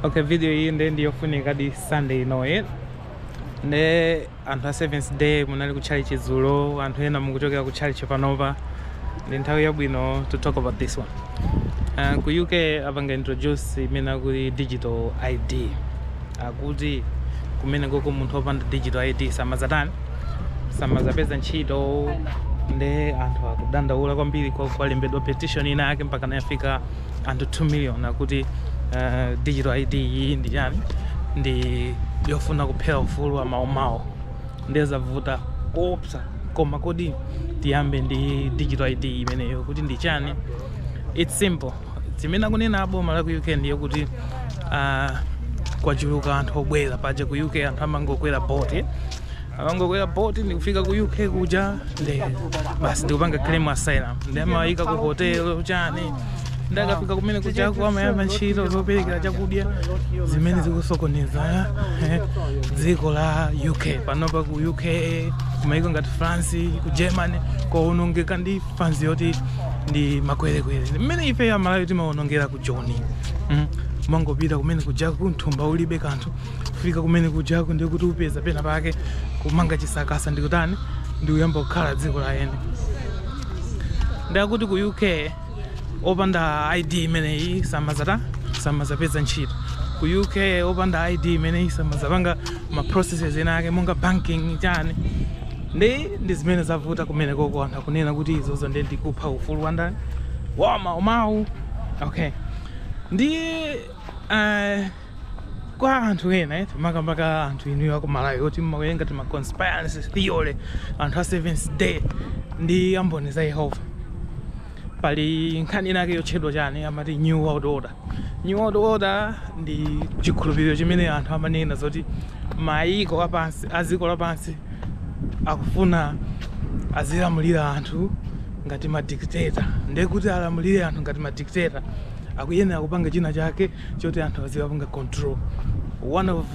okay video iyi nde ndiyofunikadi sunday inoyi nde anthu a seventh day munali ku church dzulo anthu ena mukuchokera ku church panopa ndi nthawi yabwino to talk about this one uh, ku uk apanga introduce imene akuti digital id akuti kumene koko munthu opanda digital id samazatani samazapeza ntchito nde anthu akudandaula kwambiri kwa- kwalembedwa petition ina yake mpaka nayafika anthu 2 million akuti uh, digital id iyi ndi chani ndi yofuna kuphera ufulu wa maumwini ndiye zavuta koopsa koma kodi tiyambe ndi digital id imeneyo kuti ndi chani its simple zimene akunena aboma la ku uk ndiye kuti uh, kwachuluka anthu obwera paja ku uk anthu amangokwera boti amangokwera boat ndikufika ku uk kuja nde basi ndikupanga claim asylum ndi amawayika ku hotel chani ndakafika kumene kujako amayamba ntchito zoperekera chakudya zimene zikusokoneza eh, dziko la uk panopa ku uk kumayiko ngati france ku germany kwaonongeka ndi fanzi yoti ndi makwerekwere mmene ife amalawi timaonongera ku joni mm. mmangopita kumene kujako mthumba ulibe kanthu kufika kumene kujako ndiye kuti upeza pena pake kumanga chisakasa ndikutani ndikuyamba kukhala dziko la eni nde akuti ku uk opanda id imeneyi samazata samazapeza ntchito ku uk opanda id imeneyi samazapanga ma processes ena ake monga banking chani ndi ndi zimene zavuta kumene koko anthu akunena kuti izozo ndi ndikupha ufulu wa ndani wa maumwini okay ndi uh, kwa anthu ena eh, makamaka anthu inuyo a ku Malawi oti mmawerenga tima conspiracy theory anthu a seventh day ndi amboni za Yehova pali nkhani inake yotchedwa chani amati new world order new world order ndi chikhulupiriro chimene anthu amanena zoti mayiko apansi a dziko lapansi akufuna azilamulira anthu ngati madictator ndiye kuti alamulire anthu ngati madictator akuyenera kupanga china chake choti anthu aziwapanga control one of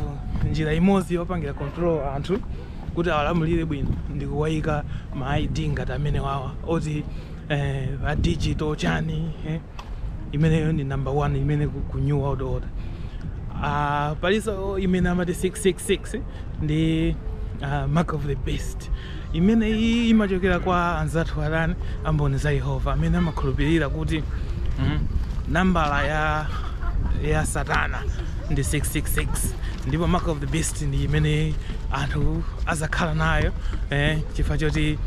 njira imodzi yopangira control anthu kuti awalamulire bwino ndi kuwayika ma id ngati amenewawa oti eh, a digital chani eh. imeneyo ndi number one imene ku, ku new world order uh, palinso imene amati 666 ndi uh, mark of the beast Imeneyi imachokera kwa anzathu atani a Mboni za Yehova amene amakhulupirira kuti mm, nambala ya ya Satana ndi 666 ndipo mark of the beast ndi imene anthu azakhala nayo eh, chifukwa choti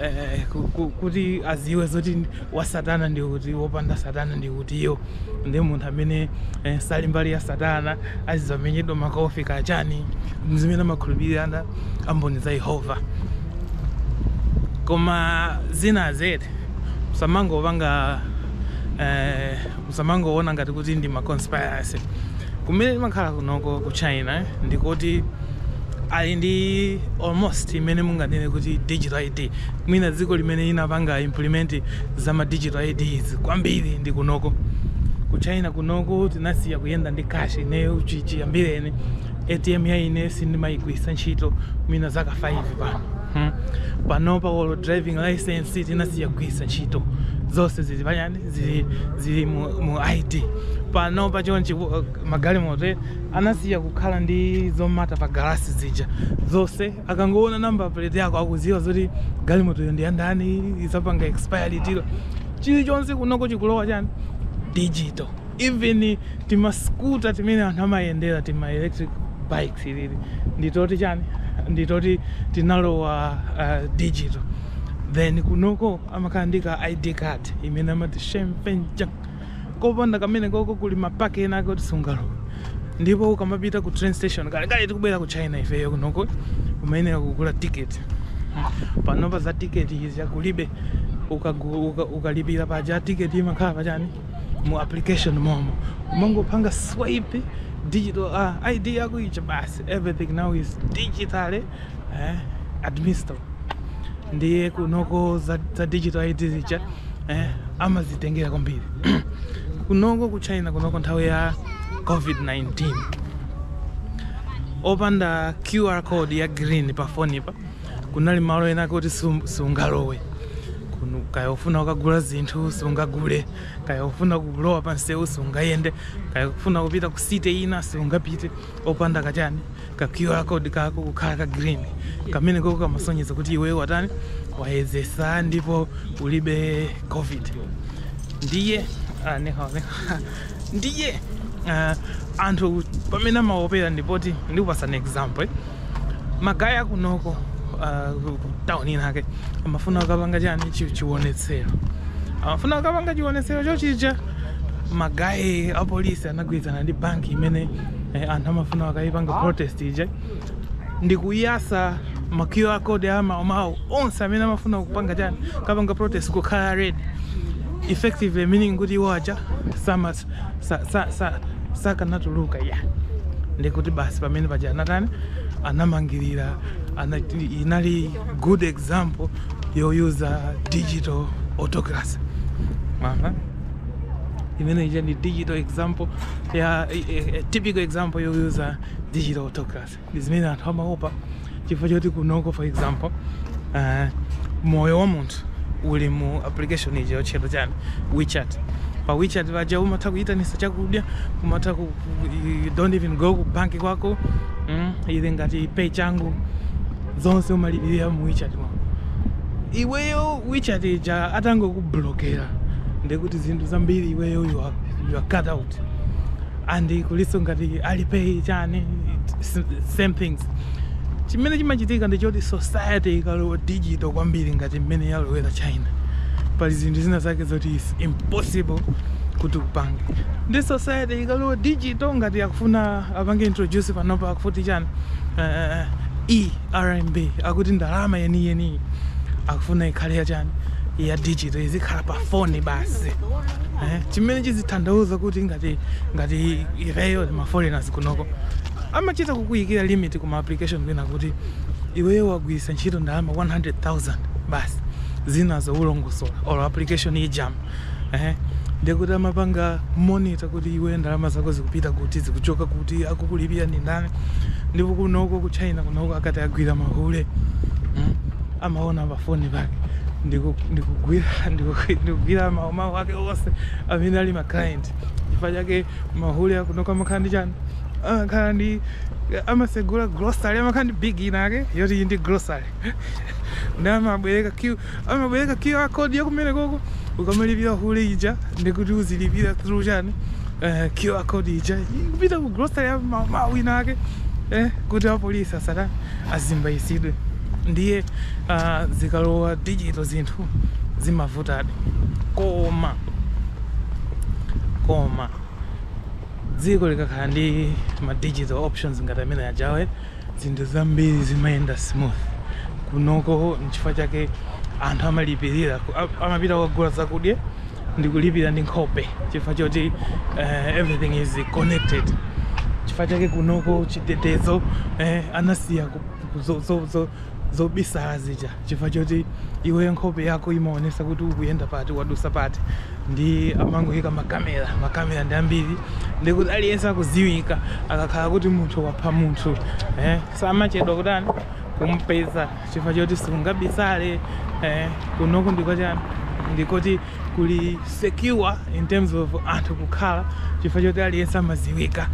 eh, ku- ku- kuti aziwe zoti wa Satana ndi uti wopanda Satana ndi utiyo ndi munthu amene eh, sali mbali ya satana azizamenyedwa makofi kaya chani zimene amakhulupirira amboni za yehova koma zina zedi musamangopanga eh, musamangoona ngati kuti ndi ma conspiracy kumene timakhala kunoko ku china eh, ndikuti ali ndi almost imene munganene kuti digital id Mwina dziko limene linapanga implement za ma digital ID izi kwambiri ndi kunoko. Ku China kunoko tinasiya kuyenda ndi cash ineyo chi- chiyambireni. ATM ya ine sindimayigwiritsa ntchito mwina zaka 5 pano. Hmm. Panopa olo driving license tinasiya kugwiritsa ntchito. Zonse zili pachani zili zili mu, mu ID. Panopa chonchi uh, magalimoto eh, anasiya kukhala ndi zomata pa galasi zija. Zonse Akangoona number plate yako akuziwa zoti galimotoyo ndi yandani izapanga expire liti lo. Chilichonse kunoko chikulowa chani digital. Even tima scooter timene anthu amayendera tima electric bikes ilili nditoti chani nditoti tinalowa uh, digital then kunoko amakhala ndi ka id card imene amati shempenja kopanda kamene koko kuli mapaki enaake oti sungalowe ndipo ukamapita ku train station kale kale tikubwera ku china ifeyo kunoko umayenera kugula tiketi panopa za tiketi izi kulibe ukagu- uka- ukalipira paja tiketi imakhala pachani mu application momo umangopanga swipe digital uh, id yako ija basi everything now is digitally eh, administered ndiye kunoko za, za digital id zija eh, amazitengera kwambiri kunoko ku china kunoko nthawi ya covid-19 opanda qr code ya green pa foni pa kunali malo enaake oti sum- sungalowe kaya ufuna kukagula zinthu sungagule kaya ufuna kulowa pansewu sungayende kaya ufuna kupita ku city ina sungapite opanda kachani ka QR code kako kukhala ka green kamene koko kamasonyeza kuti iwe watani wayezesa ndipo ulibe covid ndiye ah, neha, neha. ndiye ah, anthu pamene amaopera ndipoti ndikupatsani example eh? magaye kunoko ah, ku- ku town inake amafuna kukapanga chani chi- chiwonetsero amafuna kukapanga chiwonetsero chotchi ija magaye a polisi anagwirizana ndi banki imene eh, anthu amafuna akayipanga protest ija ndi kuyasa ma QR code amawo amawo onse amene amafuna kupanga chani kapanga protest kukhala red effectively meaning kuti iwo aja sama sa, sa, sa, sakanatuluka ya ndikuti basi pamene paja anatani anamangirira ana, inali good example yoyuza digital autocracy Aha. imene ija ndi digital example ya eh, eh, typical example yoyuza digital autocracy ndi zimene anthu amaopa chifukwa choti kunoko for example eh, moyo wa munthu uli mu application ija yotchedwa chani wechat pa wechat paja umatha kuyitanisa chakudya umatha ku, ku, you don't even go ku banki kwako mm, ili ngati pay changu zonse umalipirira mu WeChat mwako iweyo WeChat ija atangokublokera ndekuti zinthu zambiri iweyo you are, you are cut out and kuliso ngati alipay chani it's same thing chimene chimachitika ndichoti society ikalowa digital kwambiri ngati mmene yalowera china pali zinthu zina zake zoti is impossible kuti upange ndiye society ikalowa digital ngati akufuna apange introduce panopa akufuti chani eh, eh, eh, e RMB akuti ndalama yeniyeniyi akufuna ikhale yachani ya digital izikhala pa foni basi eh, chimene chizithandauza kuti ngati ngati ifeyo maforeigners kunoko amachita kukuyikira limit kuma application kwina kuti iweyo wagwiritsa ntchito ndalama 100,000 basi zinazo ulongosola or application ijama ehe ndekuti amapanga monitor kuti iweyo ndalama zako zikupita kuti zikuchoka kuti akukulipira ndi ndani ndipo kunoko ku china kunoko akati agwira mahule mm, amaona pafoni pake ndiku- ndikugwira ndiku- ndikugwira mawu mawu ake onse amene ali maclient chifukwa chake mahule akunoko amakhala ndi chani amakhala ndi amasegula grocery amakhala ndi gig inake yoti iyi ndi grocery ndi amabwereka Q- Amabwereka QR code ya kumene koko ukamalipira hule ija ndikuti uzilipira through chani eh, QR code ija ikupita ku grocery ya ma- ma- wina ake eh, kuti apolisi asatani asimbayisidwe ndiye ah, zikalowa digital zinthu zimavutadi koma koma dziko likakhala ndi ma digital options ngati amene ajawe zinthu zambiri zimayenda smooth kunoko nchifukwa chake anthu amalipirira ku- a- amapita kukagula zakudya ndi kulipira ndi nkhope chifukwa choti eh, everything is connected chifukwa chake kunoko chitetezo eh, anasiya ku- ku- zo- zo- zo- zobisala zija chifukwa choti iweyo nkhope yako imaonesa kuti ukuyenda pati wadusa pati ndi amangoyika makamera makamera ndi ambiri ndi kuti aliyense akuziwika akakhala kuti munthu wapha munthu eh, samachedwa kutani kumpeza chifukwa choti sungabisale eh, kunoko ndi kwa chani ndikoti kuli secure in terms of anthu kukhala chifukwa choti aliyense amaziwika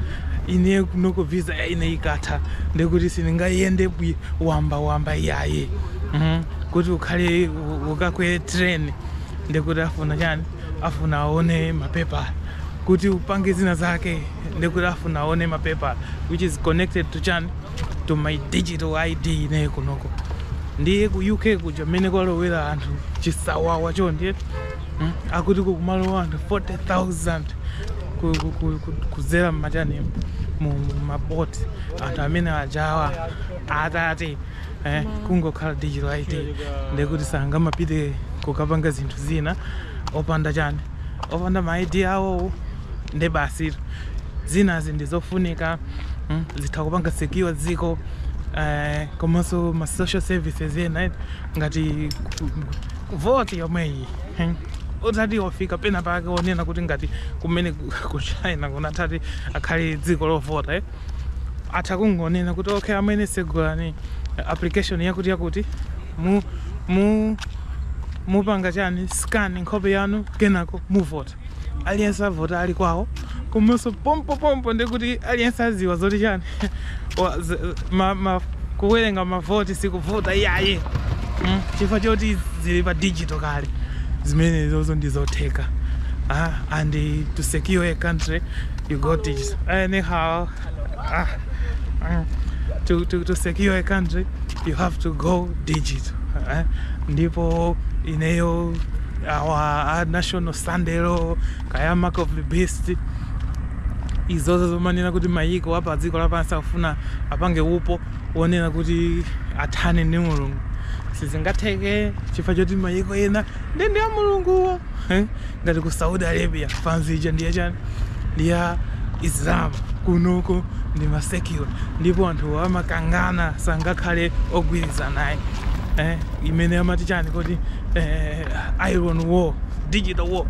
ine kunoko visa ya ine ikatha ndikuti sindingayende wamba wamba iyaye mm. kuti ukhale u- ukakwere train ndikuti afuna chani afuna aone mapepala kuti upange zina zake ndikuti afuna aone mapepala which is connected to chani to my digital id ine kunoko ndiye ku uk kuja mmene kwalowera anthu chisawawa choncho ndiye mm, akuti kukumalowa anthu 40000 ku- ku- ku- ku- kuzera mmachani mu mu maboti anthu amene ajawa atati eh, kungokhala digital id ndekuti sangamapite kukapanga zinthu zina opanda chani opanda ma ID awowo nde basi zinazi ndi zofunika mm, zitha kupanga secure dziko eh, komanso ma social services ena eh, ngati ku- ku- vota yomweyi hmm. utati wafika pena pake onena kuti ngati kumene ku- ku china kunatati akhali dziko lovota eh atha kungonena kuti okay amene segulani application yakuti yakuti mu mu mupanga chani scan nkhope yanu kenako muvota aliyense avota ali kwawo komanso pompo pompo ndikuti aliyense aziwa zoti chani wa- z- ma- ma- kuwerenga mavoti sikuvuta iyaye Mm, chifukwa choti zili pa digital kale zimenezozo ndizotheka ah, and to secure a country you go digi- anyhow Ah, ah. to, to, to secure a country you have to go digital eh? ndipo ineyo I'm not on a standero kaya mark of the beast izozo zomanena kuti mayiko apa dziko lapansi akufuna apange upo wonena kuti athane ndi mulungu sizingatheke chifukwa choti mayiko ena ndi ndi ya mulunguwo ngati ku saudi arabia fanzi ija ndi ya chani ndiya islam kunoko ndi masecular ndipo anthu amakangana sangakhale ogwirizana iyaye eh, imene amati chani kodi eh, iron wall digital wall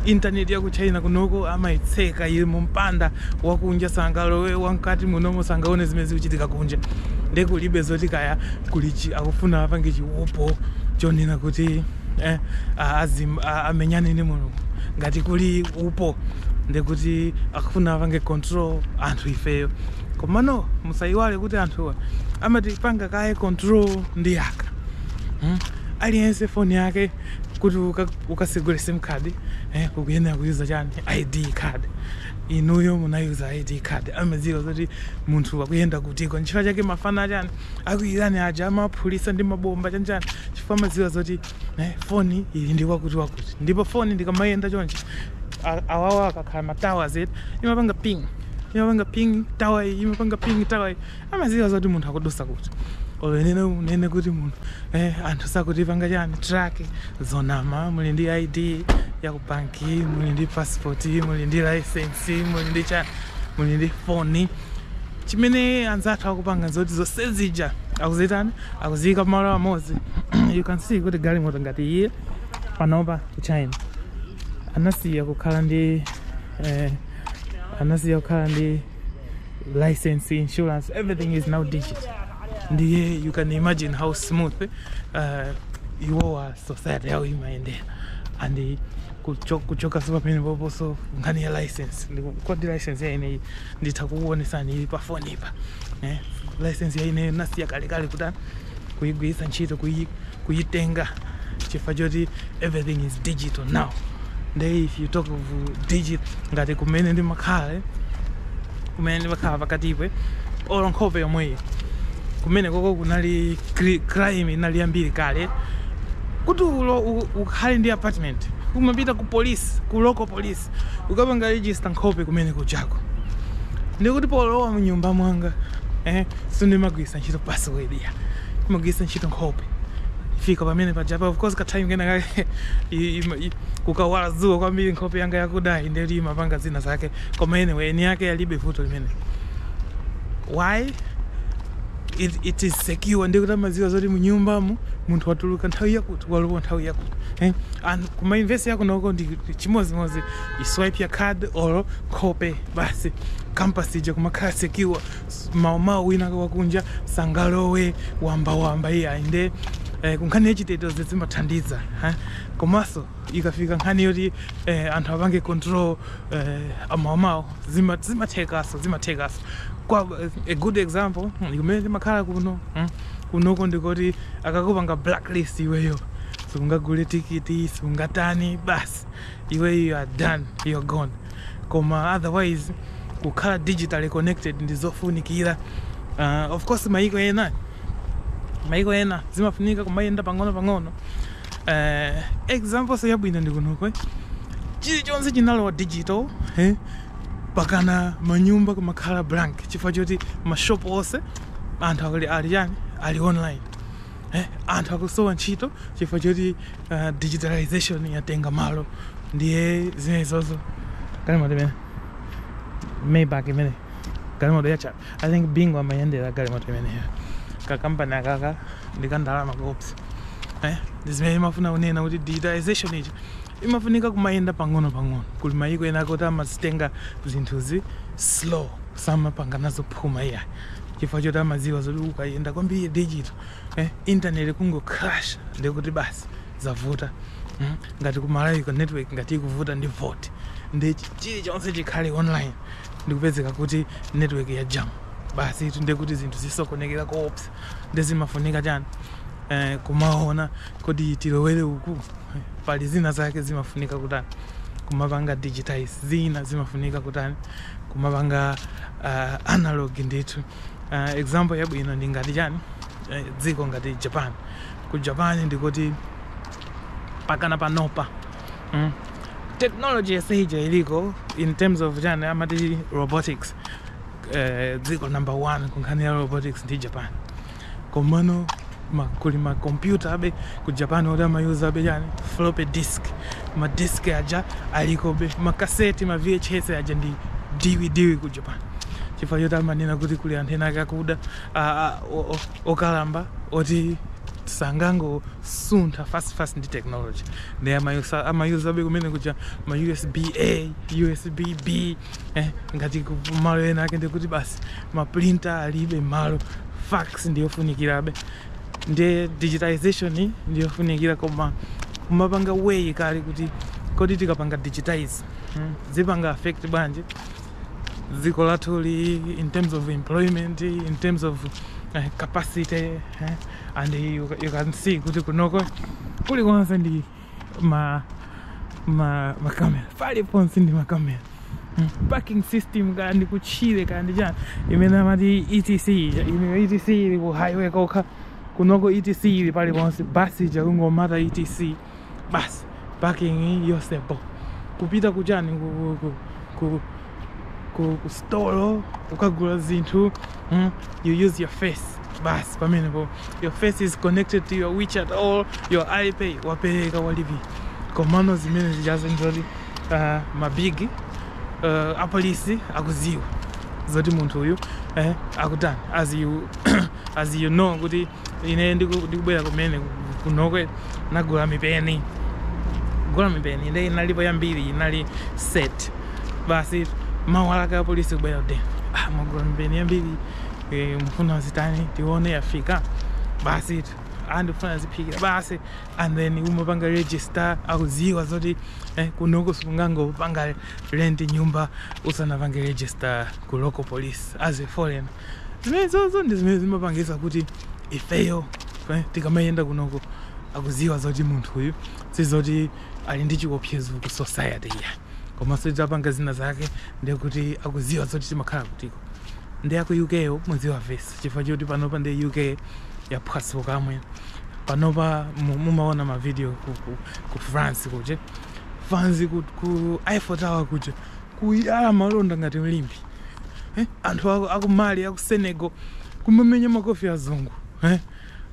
intaneti ya ku china kunoko amayitseka ili mu mpanda wakunja sangalowe wamkati munomo sangaone zimene zikuchitika kunja ndekulibe zoti kaya kuli chi, akufuna apange chiupo chonena kuti eh, azim, amenyane ndi mulungu ngati kuli upo ndikuti akufuna apange control anthu ifeyo komano musayiwale kuti anthuwa amatipanga kaye control ndi yaka hmm? aliyense foni yake kuti ukasegule sim card eh, kukuyenera kuyuza chani id card inuyo munayuza id card amadziwa kuti munthu akuyenda kutiko nchifukwa chake mafana chani a ku Iran aja amaphulisa ndi mabomba chanchani chifukwa amadziwa zoti eh, foni ili ndi wakuti wakuti ndipo foni ndikamayenda chonchi awawa akakhala ma towers eti imapanga ping imapanga ping tawa iyi imapanga ping tawa iyi amadziwa zoti munthu akudusa kuti olo nene unene kuti munthu eh, anthu sakutipanga chani track zonama muli ndi id ya ku banki muli ndi passport muli ndi license muli ndi chani muli ndi foni Chimene anzathu akupanga nzoti zonse zija akuzitani akuziyika pamalo amodzi you can see kuti galimoto ngati iyi panopa ku China anasiya kukhala ndi eh, anasiya kukhala ndi license insurance everything is now digital ndiye you can imagine how smooth uh, iwowa society yawo imayendera and kuchoka so pamenepoposo nkhani ya license kodi license ya ineyi nditha kukuonesani ili pa foni ipa eh? license ya ineyo nasiya kalekale kuti kuyigwiritsa ntchito kuyi- kuyitenga chifukwa choti everything is digital now nde if you talk of digital ngati kumene ndimakhala eh, kumene ndimakhala pakatipo olo nkhope yomweyi kumenekoko kunali cri- crime inali yambiri kale kuti olo u- ukhale ndi apartment umapita ku police ku local police ukapanga register nkhope kumenekujako ndikuti polowa mnyumba mwanga eh, sindimagwisa ntchito password yayi magwisa ntchito nkhope fika pamene pajapa of course katime kena kake i- ima- i- kukawala dzuwa kwambiri nkhope yanga yakudayi nde imapanga zina zake koma anyway eni ake alibe vuto limene why it, it is secure ndikuti amadziwa zoti munyumbamu munthu watuluka nthawi yakuti walowa nthawi yakuti eh? and kuma university akunoko ndi ndi chimodzimodzi iswipe ya card or nkhope basi campus ija kumakhala secure S- maumawu wina wakunja sangalowe wambawamba iyayi nde eh, kunkhani yachitetezo zimathandiza eh? Komanso ikafika nkhani yoti eh, anthu apange control eh, amawamawo zima- zimathekaso zimathekaso kwa a good example kumene timakhala kuno mm, kunoko ndikoti akakupanga blacklist iweyo sungagule tikiti sungatani basi iweyo you are done you are gone koma otherwise kukhala digitally connected ndi zofunikira uh, of course mayiko ena mayiko ena zimafunika kumayenda pang'ono pang'ono eh, exampleso yabwino ndi kunoko eh. chilichonse chinalowa digital eh, mpakana manyumba kumakhala blank chifukwa choti mashop onse anthu akuli ali chani ali online eh, anthu akusowa ntchito chifukwa choti uh, digitalization yatenga malo ndiye zimenezozo galimoto imene maybach imene galimoto yacha I think Bingu amayendera galimoto imeneyo ka company akaka nka ndalama koopsa eh ndi zimene imafuna kunena kuti digitalization ija imafunika kumayenda pang'ono pang'ono kuli mayiko ena kuti amazitenga zinthuzi slow samapanga nazo phuma iya chifukwa choti amadziwa zoti ukayenda kwambiri digital eh internet ikangocrasha ndikuti basi zavuta mm? ngati ku Malawi ka network ngati ikuvuta ndi vote ndi chilichonse chikhale online ndikupezeka kuti network ya jam basitu ndiye kuti zinthu zisokonekera koopsa ndiye zimafunika chani eh, kumaona kodi tilowere uku pali zina zake zimafunika kutani kumapanga digitize zina zimafunika kutani kumapanga uh, analog ndithu uh, example yabwino ndi ngati chani eh, dziko ngati Japan ku Japan ndikuti pakana panopa mm. technology yonse ija iliko in terms of chani amati robotics eh, dziko uh, number one kunkhani ya robotics ndi Japan komano ma, kuli makompyutabe ku Japan oti amayuzabe chani floppy disk madisk aja alikobe makaseti ma VHS aja ndi DVD ku Japan chifukwa choti amanena kuti kuli anthu ena aakulu okalamba oti sangango suntha fast fast ndi technology ndiye amayuza amayuzabe kumene kuja ma USB A USB B eh, ngati malo ena ake ndikuti basi ma printer alibe mmalo fax ndiyofunikirabe ndiye digitization ndiyofunikira koma kumapanga weigh kaye kuti kodi tikapanga digitize hmm, zipanga affect bwanji dziko lathuli in terms of employment in terms of uh, capacity uh, and you, you can see kuti kunoko kulikonse ndi ma ma makamera paliponse ndi makamera Mm. parking system kaya ndi kutchire kaya ndi chani imene amati ETC ija imeneyo ETC ili ku highway kokha kunoko ETC ili paliponse basi ija kungomata ETC basi parking yonse bo kupita kuchani ku, ku, ku, ku, ku, ku stolo ukagula zinthu mm, you use your face basi pamenepo your face is connected to your WeChat or your Alipay wapereka walipira komano zimene zijazo ndizoti uh, mabigi uh, apolisi akudziwa zoti munthu uyu eh, akutani as you, as you know kuti ine ndiku- ndikubwera kumene ku- kunokwe nagula mipeni gula mipeni nde inalipo yambiri inali set basi mawa lake apolisi kubwera kuti ah, mwagula mipeni yambiri eh, mfuna zitani tione yafika basi tu, ah, ndifuna ziphikira basi and then umapanga register akuziwa zoti eh, kunoko sungangopanga rent nyumba usanapange register ku local police as a foreigner Zimenezozo ndi zimene zimapangisa kuti ifeyo tikamayenda kunoko akuziwa zoti munthu uyu sizoti ali ndi chiopsezo ku society iya komanso tidzapanga zina zake ndiye kuti akuziwa zoti timakhala kutiko ndi aku UK yo muziwa vesi chifukwa choti panopa ndi UK yaphwasuka kamwe panopa mumaona mavidiyo ku, ku, ku France kuja fanzi ku, ku Eiffel Tower kuja kuyala malonda ngati m'limbe eh? anthu aku, aku mali aku senegal kumamenya makofi azungu eh?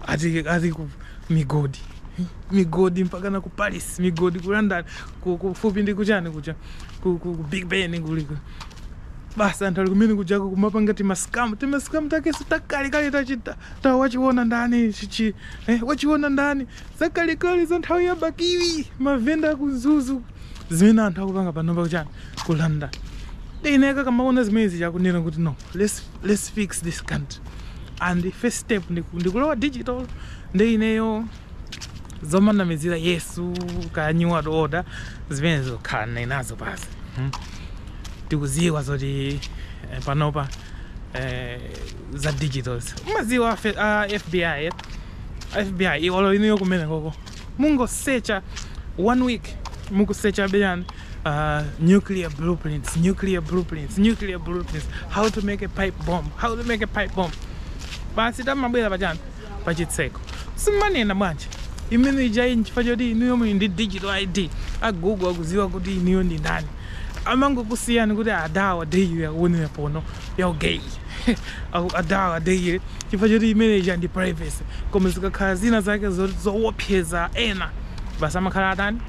ati, ati ku migodi eh? migodi mpakana ku paris migodi ku london ku- kufupi ndi kuchani kuja ku, ku, ku big ben kuliko basi anthu ali kumene kujako kumapanga tima scam tima scam takeso takalekale tachita ta wachiona ndani chichi eh, wachiona ndani zakalekale za nthawi ya bakili mavenda aku mzuzu zimene anthu akupanga panopa kuchani ku london nde akamaona zimene zija akunena kuti no let's, let's fix this country and first step ndikulowa digital ndi ineyo zomanamizira yesu ka new world order zimenezo khalani nazo basi hmm? tikuziwa zoti eh, panopa eh, za digitals umaziwa uh, fbi fbi olo inuyo kumene koko mungosecha 1 week mukusechabe chani uh, nuclear blueprints nuclear blueprints nuclear blueprints how to make a pipe bomb how to make a pipe bomb basi amabwera pachani pachitseko simanena bwanji imene ijayi nchifukwa choti inuyo muli ndi digital id a google akuziwa kuti inuyo ndi ndani amangokusiyani kuti adawa daily akuonera pono ya gay Aku- adawa daily chifukwa choti imene ija ndi privacy koma zikakhala zina zake zo- zowopseza ena basi amakhala atani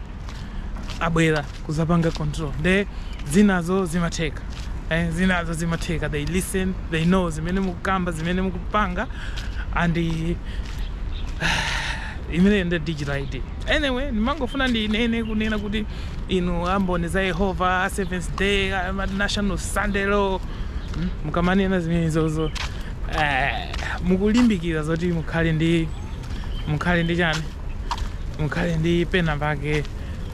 abwera kuzapanga control nde zinazo zimatheka eh, zinazo zimatheka they listen they know zimene mukukamba zimene mukupanga and Imeneyo ndi digital ID. Anyway, ndimangofuna ndinene kunena kuti inu a Mboni za Yehova, a Seventh Day, a ma National Sunday Law, mm, mukamanena zimenezozo eh, mukulimbikira zoti mukhale ndi mukhale ndi chani mukhale ndi pena pake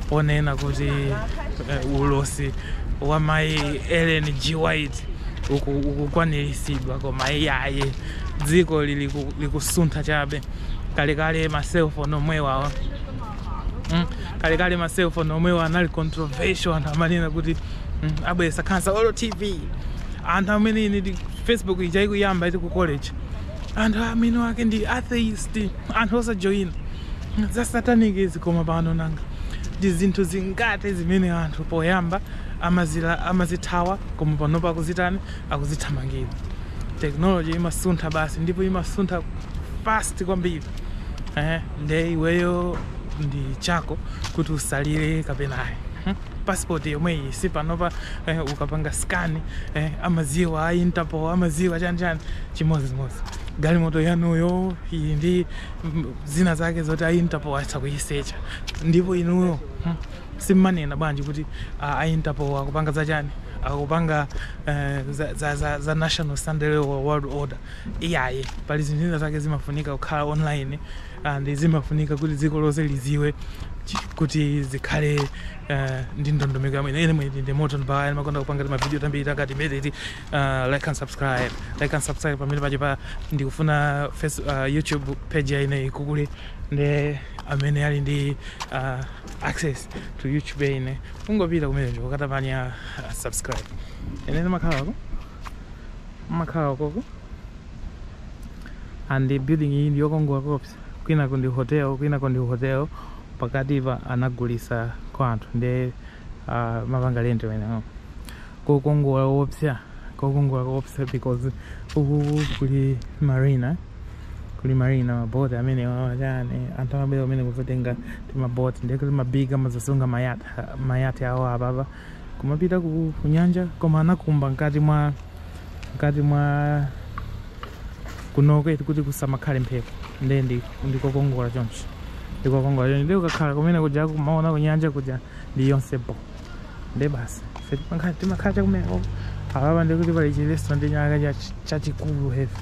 ponena kuti eh, ulosi wa mayi Ellen G. White uku- ukukwaniritsidwa koma iyaye dziko lili ku- likusuntha chabe kalekale ma cell phone omwewa mm, kalekale ma cell phone omwewa anali controversial anthu amanena kuti mm, abweresa khansa olo tv anthu amanena ine ndi facebook ija ikuyamba iti ku college anthu mwini wake ndi atheist anthu osajoyina nja satanic izi koma pano nanga ndi zinthu zingati zimene anthu poyamba amazila amazithawa koma pano pakuzitani akuzithamangira technology imasuntha basi ndipo imasuntha fast kwambiri eh, nde iweyo ndi chako kuti usalire kapena ayi hmm? passport yomweyi si panopa eh, ukapanga scan eh, amaziwa a interpol amaziwa chani chani chimodzimodzi galimoto yanuyo ili ndi mm, zina zake zoti a interpol atha kuyisecha ndipo inuyo hmm, simmanena bwanji kuti a, a interpol akupanga za chani akupanga eh, za, za, za, za national Sunday law world order iyayi pali zinthu zina zake zimafunika kukhala online and zimafunika kuti dziko lonse liziwe chi- kuti zikhale eh, ndi ndondomeko yabwino ine mwini ndi moto ndibaya ndimakonda kupanga timavidiyo tambiri takati mediti uh, like and subscribe like and subscribe pamene pache pa ndikufuna face, uh, youtube page ya ineyi ikule ndi amene ali ndi uh, access to youtube ine ungopita kumeneko ukatabanya uh, subscribe ine ndimakhala ko ndimakhala koko and the building iyi ndiyokongola koopsa kwinako ndi hotel kwinako ndi hotel pakati pa anagulisa kwa anthu ndi uh, amapanga lendi wenewo kokongola koopsa kokongola koopsa because uku kuli marina kuli marina maboti amenewa wachani anthu amabwera kumeneku kuzatenga timaboti ndiye kuti mabiga amazasunga mayati mayati awo apapa kumapita ku ku nyanja koma anakumba mkati mwa mkati mwa kunoko kuti kusamakhale mphepo ndiye ndi- ndikokongola choncho ndikokongola choncho ndiye ukakhala kumene kuja kumaona kunyanja kuja ndi yonse bo nde basi ife timakhala- timakhala chakumeneko apapa ndikuti pali chi restaurant chacha- chachikulu heavy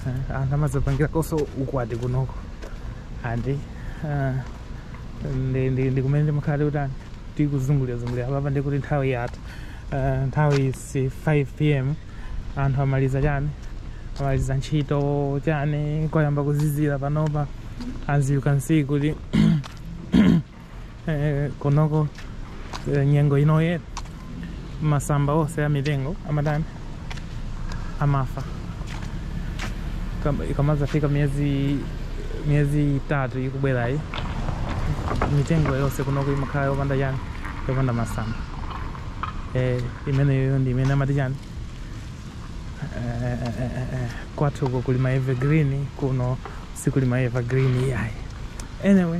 Eh, anthu amazapangira koso ukwati kunoko andi ah, ndi- ndi- ndi kumene timakhala tikutani tikuzungulirazungulira apapa ndikuti nthawi yatha Eh, nthawi zi 5 pm anthu amaliza chani amaliza ntchito chani kwayamba kuzizira panopa as you can see kuti eh, kunoko eh, nyengo inoye masamba ose a mitengo amatani amafa Kama- ikamazafika miezi miezi itatu ikubwerayi mitengo yose kunoko imakhala yopanda chani yopanda masamba eh, imeneyo ndi imene amati chani Eh, eh, eh, eh, eh, kwathu uko kuli ma evergreen kuno sikuli ma evergreen yayi anyway